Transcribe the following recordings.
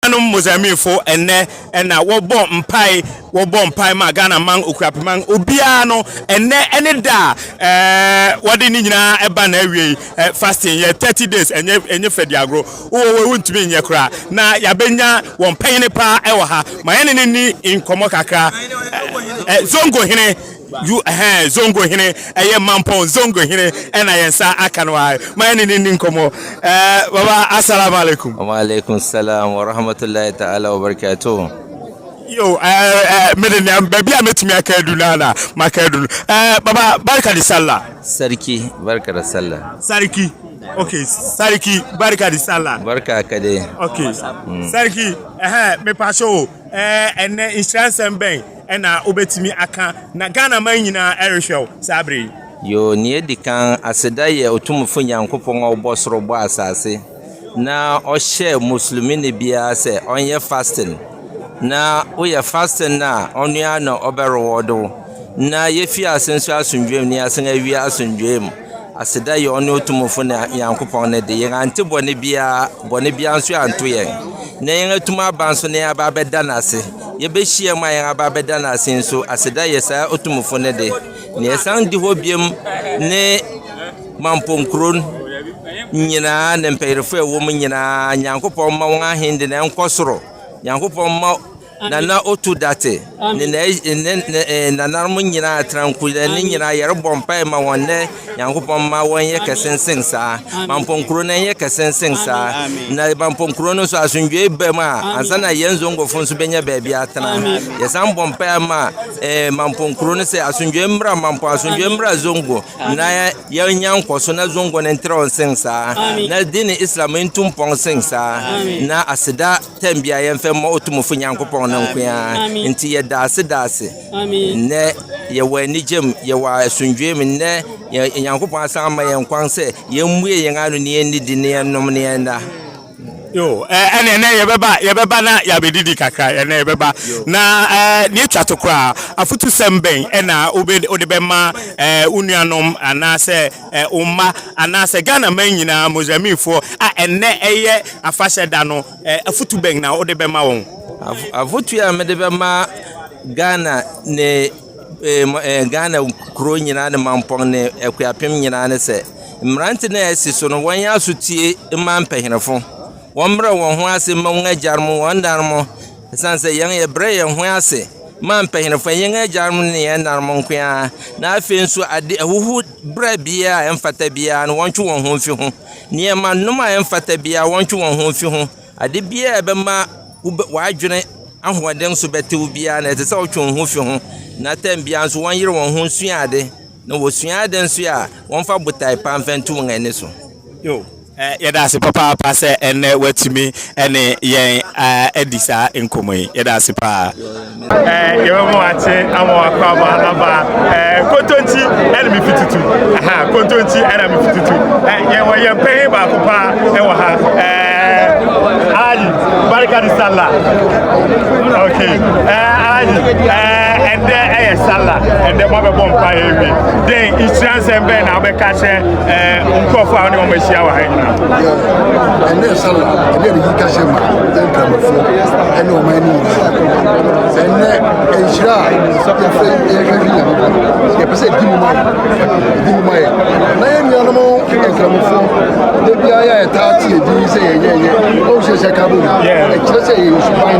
Nuanom Mozambifo ɛnnɛ na wɔbɔ mpae, wɔbɔ mpae ma Ghana man, Okurapeman, obiara no, ɛnnɛ ɛne da a ɛɛ wɔde ne nyinaa ɛba na awie yi, ɛ fasting yɛ 30 days, ɛnyɛ ɛnyɛ fɛ di agorɔ, wowɔ wɔ wuntumi nyɛ koraa, na yabɛnya wɔn panyini paa ɛwɔ ha, ma yɛne ne ni nkɔmɔ kakra, ɛ ɛ Zongo hene. You ɛhɛn Zongo hene ɛyɛ Mampong Zongo hene ɛna yɛn nsa aka no ara ma yɛne no nni nkɔmmɔ ɛɛ Baba Asalamu alaikum. Wa alaikum salaam wa rahmatullahi ta'ala wa barakatuhu. Yo ɛɛ ɛɛ me de nea baabi a mɛtumi aka adu no ara na maka adu no ɛɛ Baba Barka de Sallah. Sarki Barka de Sallah. Sarki ok Sarki Barka de Sallah. Barka ka dai. Ok Sarki ɛhɛn mepaakyɛ o ɛɛ ɛnɛ nhyira nsɛm bɛn na wobɛtumi aka na Ghana man nyinaa ɛrehwɛ wo saa berɛ yi. Yoo nea edi kan aseda yɛ Otumfo Nyankopɔn a ɔbɔ soro bɔ asase na ɔhyɛ Muslimini biara sɛ ɔnyɛ fasting na woyɛ fasting no a ɔno ara na ɔbɛ reward wo na yɛfi ase nso asomdwoe mu na yɛasan awie asomdwoe mu. Aseda yɛ ɔne otumfo ne Nyankopɔn no de, yɛn ante bɔne biara, bɔne biara nso anto yɛn. Na yɛn atum aba nso na yɛn aba abɛda no ase. Yɛbɛhyia mu a yɛn aba abɛda no ase nso, aseda yɛ saa otumfo no de. Na yɛsan di hɔ biom ne Mampong kuro nyinaa ne mpanyinfoɔ a ɛwɔ mu nyinaa. Nyankopɔn mma wɔn ahende no ɛnkɔ soro. Nyankopɔn mma. Nana Otu Date ne nananom nyinaa atrankuda ne nyinaa yɛrebɔ mpae ma wɔn nnɛ Nyankopɔn mma wɔn yɛ kɛse nsen saa Mampɔn kuro no nyɛ kɛse nsen saa na Mampɔn kuro no nso asomdwoe ba mu a ansa na yɛn Zongofo nso bɛnya baabi atena yɛsan bɔ mpae ma eh, Mampɔn kuro no sɛ asomdwoe mmra Mampɔn asomdwoe mmra Zongo na yɛnya nkɔso na Zongo no ntrɛw nsen saa na dini Islam ntu mpɔn nsen saa na aseda Tɛm bia yɛmfɛ mmɔ Otumfo Nyankopɔn no nko ara. Nti yɛda ase da ase. Nnɛ yɛwɔ anigyem, yɛwɔ asomdwoe mu. Nnɛ yɛ Nyankopɔn asan ama yɛn kwan sɛ yɛmmue yɛn ano na yɛnnidi na yɛnnom na yɛnna. Yo, eh, ɛne ɛnɛ yɛbɛba, yɛbɛba na yɛabɛdidi kakra, ɛnɛ yɛbɛba. Na eh, ne ɛtwa to koraa, afotusɛm bɛn ɛna wobɛ- wode bɛma eh, wo nuanom anaasɛ wo mma anaasɛ Ghana man nyinaa Mozambiquefoɔ a ɛnnɛ ɛyɛ afahyɛ da no, afutu bɛn na wode bɛma wɔn? Afotu a mede bɛma Ghana ne Ghana kuro nyinaa ne mampɔn ne akuapem nyinaa ne sɛ, mmerante no a ɛsi so no, wɔnyɛ asotie mma mpanyinfo. Wɔmmrɛ wɔn ho ase mma wɔn agyanom, wɔn nanom, Esiane sɛ yɛn yɛbrɛ yɛn ho ase ma mpanyinfo, ɛnyɛ yɛn agyanom ne yɛn ɛnanom nko ara, na afei nso ade ahuhubrɛ biara a ɛmfata biara no wɔntwe wɔn ho mfi ho, nneɛma nom a ɛmfata biara wɔntwe wɔn ho mfi ho, ade biara a ɛbɛma w'adwene ahoɔden so bɛtew biara no ɛsɛ sɛ wotwe wo ho fi ho, na tɛm biara nso wɔnyere wɔn ho nsua ade. Na wɔsua ade nso a, wɔmfa botae pa mfa ntu wɔn ani so. Yo, eh, yɛda ase papaapa sɛ ɛnnɛ watumi ne yɛn adi saa nkɔmmɔ yi. Yɛda ase paa. Eh, yɛbɛma wakye ama wakɔ ama aba. Eh, kontonti ɛna mefi tutu. Aha, kontonti ɛna mefi tutu. Eh, yɛwɔ yɛn panyin baako paa ɛwɔ ha. Eh, Alaji, barika di sala. Okay. Eh, Alaji, eh, Dɛ ɛyɛ Salah, ndɛ moabɛbɔ mpaa ewie. Dɛn nhyira nsɛm bɛn na wobɛka akyerɛ eh, nkorɔfo a wone wɔn ahyia wɔ ha nyinaa? Ɛnɛ Salah, ɛnɛ ne yika hyɛ ma nkramofo ɛne ɔman no nyinaa. Ɛnɛ nhyira a yɛfɛ yɛhwɛ fi Nyankopɔn, yɛpɛ sɛ ɛdi mu ma yɛ, ɛdi mu ma yɛ. Na yɛn nuanom nkramofo, da biara yɛ ɛtaa te ɛdi sɛ yɛnyɛ yɛ, ɔnhyɛ hyɛ ka bɔ mu, ɛkyerɛ sɛ yɛyɛ suban.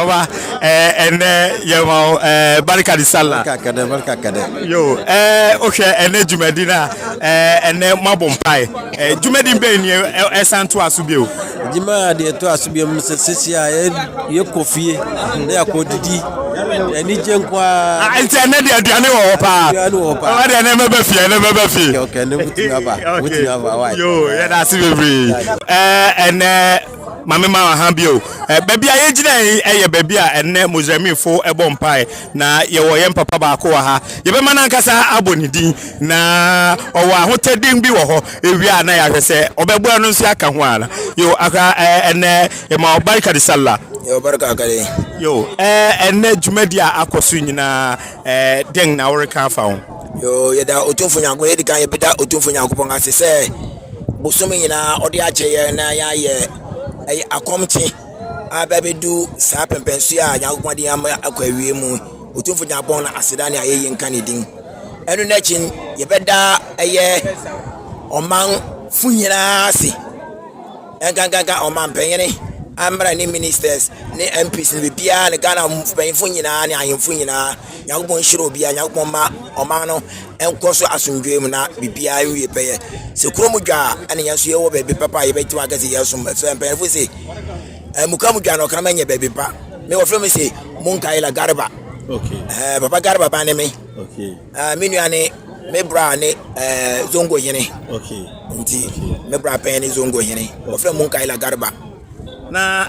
Ɔba ɛɛ eh, ɛnɛ yɛn ma o ɛɛ eh, barika di sala. Barika kɛdɛ barika kɛdɛ. Yo ɛɛ o hwɛ ɛnɛ dwumadi na ɛɛ ɛnɛ mo abɔ mpae ɛɛ dwumadi bɛyi ni ɛsan to aso bi o. Juma deɛ to aso bi mu sɛ sisi a yɛ yɛ kɔ fie ne yɛ kɔ didi ɛni jɛ nkɔ aa. Nti ɛnɛ deɛ aduane wɔ hɔ paa. Aduane wɔ hɔ paa. Ɔba deɛ ɛnɛ mɛbɛ fie ɛnɛ mɛbɛ fie. Ɔkɛ ne wotumi aba wotumi aba wa. Yo yɛ da ase bebree ɛɛ ɛnɛ. Maame ma wɔ ha bio. Ɛ, baabi a yɛgyina yi yɛ baabi a ɛnnɛ Mozambikfo bɔ mpae, na yɛwɔ yɛn papa baako wɔ ha. Yɛbɛma no ankasa abɔ ne din, na ɔwɔ ahotɔden bi wɔ hɔ. Ewie a na yɛahwɛ sɛ ɔbɛboa no nso aka ho ana. Yo, aka ɛ, ɛnnɛ yɛma wɔ barika de sala. Yo, barika akade. Yo, ɛ, ɛnnɛ dwumadi a akɔ so nyinaa, ɛ, dɛn na woreka afa ho? Yoo, yɛda Otumfo Nyankopɔn, yɛdi kan yɛbɛda Otumfo Nyankopɔn ase sɛ bosome nyinaa ɔde akyɛ yɛn na yɛayɛ ɛyɛ akɔmkye abɛbɛdu saa pɛmpɛnso a Nyankopɔn de ama akɔ awie mu. Otumfo Nyankopɔn na aseda ne ayɛyi nka ne din. Ɛno n'akyi yɛbɛda ɛyɛ ɔmanfo nyinaa ase, ɛnkankanka ɔmampanyini, amra ne ministers ne MPs ne biribiara ne Ghana mpanyinfo nyinaa ne ahemfo nyinaa. Nyankopɔn nhyira obiara, Nyankopɔn ma ɔman no nkɔ so asomdwoe mu na biribiara nwie pɛyɛ. Sɛ kuro mu dwa a, ɛna yɛn nso yɛwɔ baabi papa a yɛbɛtumi aka sɛ yɛsom. Ɛfisɛ mpanyinfo se, ɛmuka mu dwa no ɔkra mɛnyɛ baabi pa. Me wɔfrɛ me se Munkaila Garba. Okay. Ɛɛ papa Garba ba ne me. Okay. Ɛɛ me nua ne me bra ne ɛɛ zongo hene. Okay. Nti me bra pɛn ne zongo hene. Wɔfrɛ Munkaila Garba. Na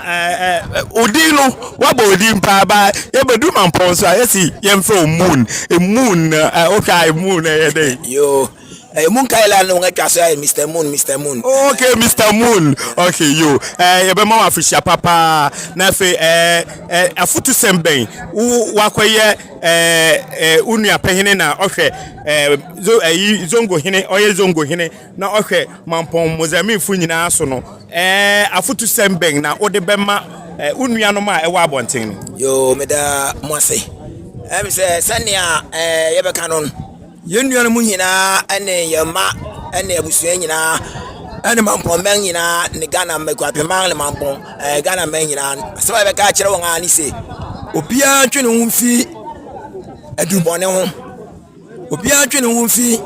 odin no wabɔ odin paa ba yɛbɛdu mampɔn nso a yɛsi yɛmfrɛ o moon moon na wohwɛ a moon na ɛyɛ dɛ yoo ɛyɛ moon kaila no wɔn atwa so ayɛ mr moon mr moon ok mr moon ok yo yɛbɛma wo afihyia papa na afei afutusɛm bɛn wo wakɔyɛ wo nua pɛhene na ɔhwɛ ɛyi zongo hene ɔyɛ zongo hene na ɔhwɛ Mampɔn Mozambiquefo nyinaa so no, ɛɛ afotusɛm bɛn na wode bɛma wo nuanom a ɛwɔ abɔnten no? Yoo, meda mo ase. Ɛm sɛ sɛnea ɛɛ yɛbɛka no, yɛn nuanom nyinaa ne yɛn mma ne abusua nyinaa ɛne Mampɔn mmɛn nyinaa ne Ghana mmɛkuapemman ne Mampɔn ɛɛ Ghana mmɛn nyinaa asɛm a yɛbɛka akyerɛ wɔn a ne se obiara ntwe ne ho mfi adubɔne ho. Obiara twe ne ho fi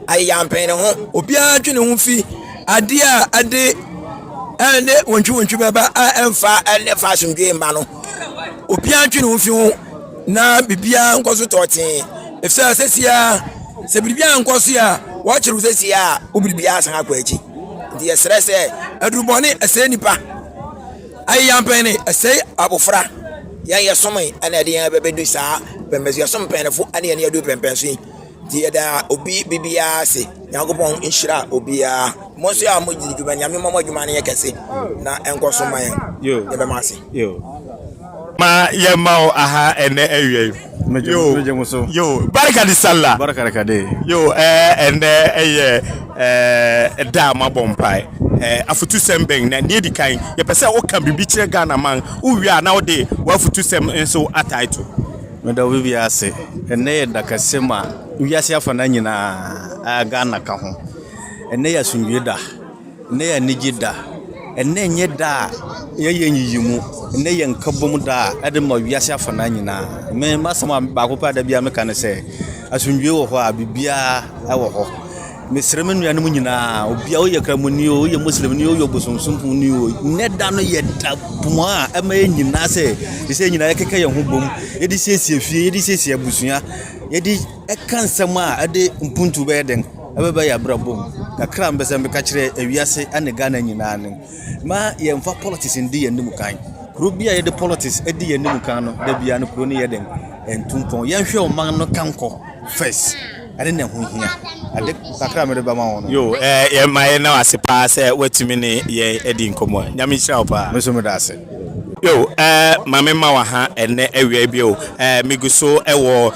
ayeyampen no ho. Obiara twe ne ho fi adeɛ a ɛde ɛne wɔntwiwɔntwi bɛba a ɛmfa ɛne fa asomdwoe mma no. Obiara twe ne ho fi ho na biribiara nkɔ so tɔɔtee. Ɛfisɛ sɛsia, sɛ biribiara nkɔ so a, wɔkyere wo sɛsia a, wo biribiara san akɔ akyi. Nti yɛsrɛ sɛ, adurubɔne ɛsɛe nnipa. Ayeyam pɛn ne ɛsɛe abofra. Yɛn yɛsomee na ɛde yɛn bɛbɛdu saa pɛmpɛnso yɛsom mpanyinfo ne yɛn yɛadu pɛmpɛnso yi nti yɛda obi bibiara ase nyankopɔn nhyira obiara mo nso a mo gyidi dwuma nyame mmɔ mo adwuma no yɛ kɛse na ɛnkɔ so ma yɛn yɛbɛma ase ma yɛma wo aha ɛnɛ awia yi Yo, yo, barika de sala. Barika de kade. Yo, ɛɛ ɛnɛ ɛyɛ ɛɛ da a mabɔ mpae. Ɛɛ afutusɛm bɛn na nea edi kan yɛpɛ sɛ woka biribi kyerɛ Ghana man. Wowie a na wode w'afutusɛm nso atae to. Meda obi biara ase. Ɛnɛ yɛ da kɛse ma wiase afana nyinaa a Ghana ka ho. Ɛnɛ yɛ asomdwoe da. Nnɛ yɛ anigye da. Nnɛ nyɛ da a yɛyɛ nyiyimu. Nnɛ yɛ nkabom da a ɛde ma wiase afanan nyinaa. Me m'asɛm a baako pɛ a da biara meka ne sɛ, asomdwoe wɔ hɔ a biribiara wɔ hɔ. Mesrɛ me nuanom nyinaa, obiara woyɛ Kramoni o, woyɛ Muslimni o, woyɛ Ɔbosomsomfoni o, nnɛ da no yɛ da bɔn a ɛma yɛn nyinaa sɛ te sɛ yɛn nyinaa yɛkeka yɛn ho bom, yɛde siesie fie, yɛde siesie abusua, yɛde ka nsɛm a ɛde mpuntuo bɛyɛ den. Ɛbɛba yɛn abrabɔ mu kakra a mepɛ sɛ meka kyerɛ ewiase ne Ghana nyinaa no, mma yɛmfa politics ndi yɛn anim kan. Kuro bi a yɛde politics di yɛn anim kan no, da biara no kuro no yɛ dɛn? Ɛntu mpɔn. Yɛnhwɛ ɔman no kankɔ first. Ɛne na ɛho hia. Ade kakra a mede bɛma wo no. Yo, eh, yɛ ma yɛ na wase paa sɛ watumi ne yɛ adi nkɔmɔ. Nyame nhyira wo paa. Meso meda ase. Yo, eh, ma me ma waha ɛnɛ awia bi o. Eh, me guso ɛwɔ.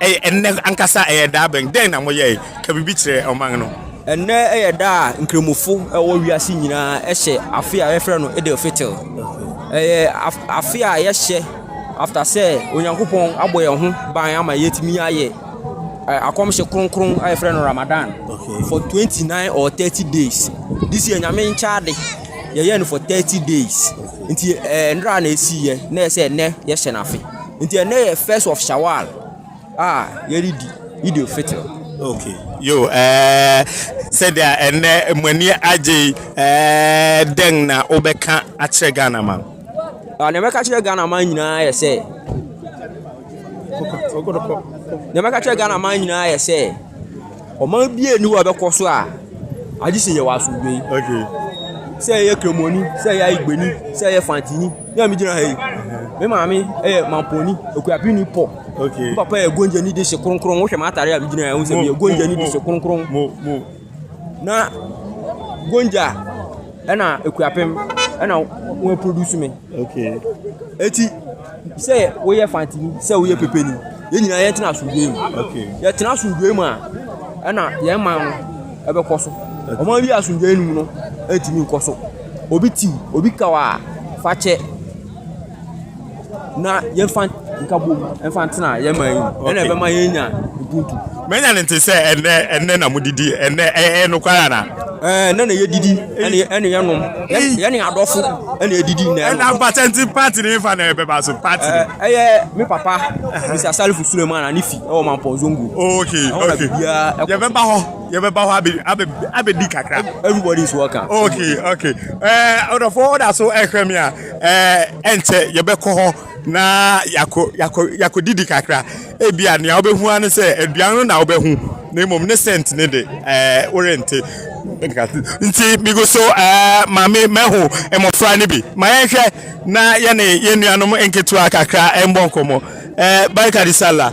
Ɛyɛ ɛnnɛ ankasa ɛyɛ da bɛn? Dɛn na moyɛe? Ka biribi kyerɛ ɔman no. Ɛnnɛ yɛ da a Nkramofo wɔ wiase nyinaa hyɛ afe a wɔfrɛ no Eid al-Fitr. Ɛyɛ afe a yɛhyɛ after sɛ Onyankopɔn abɔ yɛn ho ban ama yɛatumi ayɛ akɔmhyɛ kronkron a yɛfrɛ no Ramadan for 29 or 30 days. This year Nyame nkyɛade yɛyɛ no for 30 days. Nti ɛnra na ɛsiiɛ na ɛsɛ ɛnnɛ yɛhyɛ no afe. Nti ɛnɛ yɛ first of Shawwal a yɛredi Eid al Fitr. Okay. Yo, eh, sɛdeɛ ɛnɛ mo ani agye yi, eh, dɛn na wobɛka akyerɛ Ghana man? Ah, nea mɛka kyerɛ Ghana man nyinaa yɛ sɛ nea mɛka kyerɛ Ghana man nyinaa yɛ sɛ Ɔman biara nni hɔ a ɛbɛkɔ so a agye sɛ yɛwɔ asomdwoe. Okay. Sɛ ɛyɛ Kremoni, sɛ ɛyɛ Aigbeni, sɛ ɛyɛ Fantini, ne a megyina ha yi. Me maame yɛ Mamponi, Okuapini Pɔ. Okay. Me papa yɛ Gonjani de se kronkron. Wohwɛ m'atare a megyina ha yi, sɛ meyɛ Gonjani de se kronkron. Mo, mo. Na Gonja ɛna Ekuapem ɛna wɔn produce me. Okay. Eti sɛ woyɛ fantini sɛ woyɛ pepeni yɛn nyinaa yɛntena asomdwoe mu. Okay. Yɛtena asomdwoe mu a ɛna yɛn man no ɛbɛkɔ so. Ɔman bi asomdwoe mu no ɛntumi nkɔ so. Obi tiw, obi kaw a fakyɛ na yɛmfa nkabom mfa ntena yɛn man yi mu. Ɛna ɛbɛma yɛn nya ubuntu. Manya no nte sɛ ɛnɛ, ɛnɛ na modidi, ɛnɛ ɛyɛ nokware ana? Ɛɛ, ɛnɛ na yɛdidi, ɛne ɛne yɛnom, yɛne adɔfo ɛne yɛdidi na ɛnom. Ɛna mpata nti party ne fa na ɛbɛba so party. Ɛɛ, ɛyɛ me papa, Mr. Salifu Suleiman a ne fi ɛwɔ Mampɔn Zongo. Okay, okay. Yɛbɛba hɔ, yɛbɛba hɔ abɛ abɛ abɛdi kakra. Everybody is welcome. Okay, okay. Ɛɛ, ɔdɔfo ɔda so ɛhwɛ me a, ɛɛ ɛnkyɛ yɛbɛkɔ hɔ. na yɛakɔ yɛakɔ yɛakɔdidi kakra ebia nea wobɛhu ara ne sɛ aduan no na wobɛhu na mmom ne sɛnt ne de ɛɛ worente nti migu so ɛɛ maame mahu mmɔfra no bi ma yɛnhwɛ na yɛne yɛn nuanom nketewa kakra ɛmbɔ nkɔmmɔ ɛɛ barikadi sala.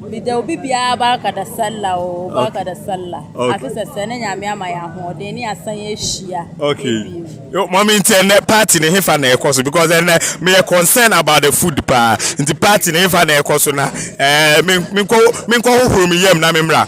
Meda obi biara barka da sallah o, barka da sallah. Okay. Ase sɛ sɛ ne nyame ama yɛ ahoɔden ne asan ahyia. Okay. Yo, mommy nti ɛnɛ party ne hefa na ɛkɔ so because ɛnɛ meyɛ concern about the food paa. Nti party ne hefa na ɛkɔ so na eh, menkɔ menkɔ hohoro me yam na memmra.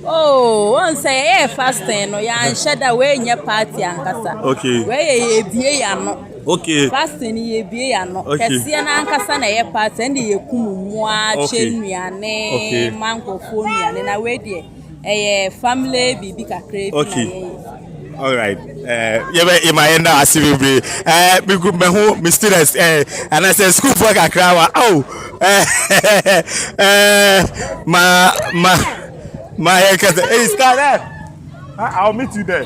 Oh, wɔn sɛ yɛyɛ fasting no yɛanhyɛ da wei nyɛ party ankasa. Okay. Wei yɛ yɛbie yɛn ano. Okay. Fasting no yɛbie yɛ ano. Okay. Kɛseɛ no ankasa na ɛyɛ part ɛnde yɛkum mmoa kyɛ nnuane okay. ma nkurɔfoɔ nnuane na wei deɛ ɛyɛ family biribi kakra bi okay. na yɛyɛ. Alright, eh, yɛbɛ ima yɛn da ase bebree ɛɛ eh, bigu mɛ ho mi students ɛɛ eh, anasɛ sukuufoɔ kakra wa aw ɛɛ ɛɛ ma ma ma yɛ kɛse ɛyi star dɛ I will meet you there.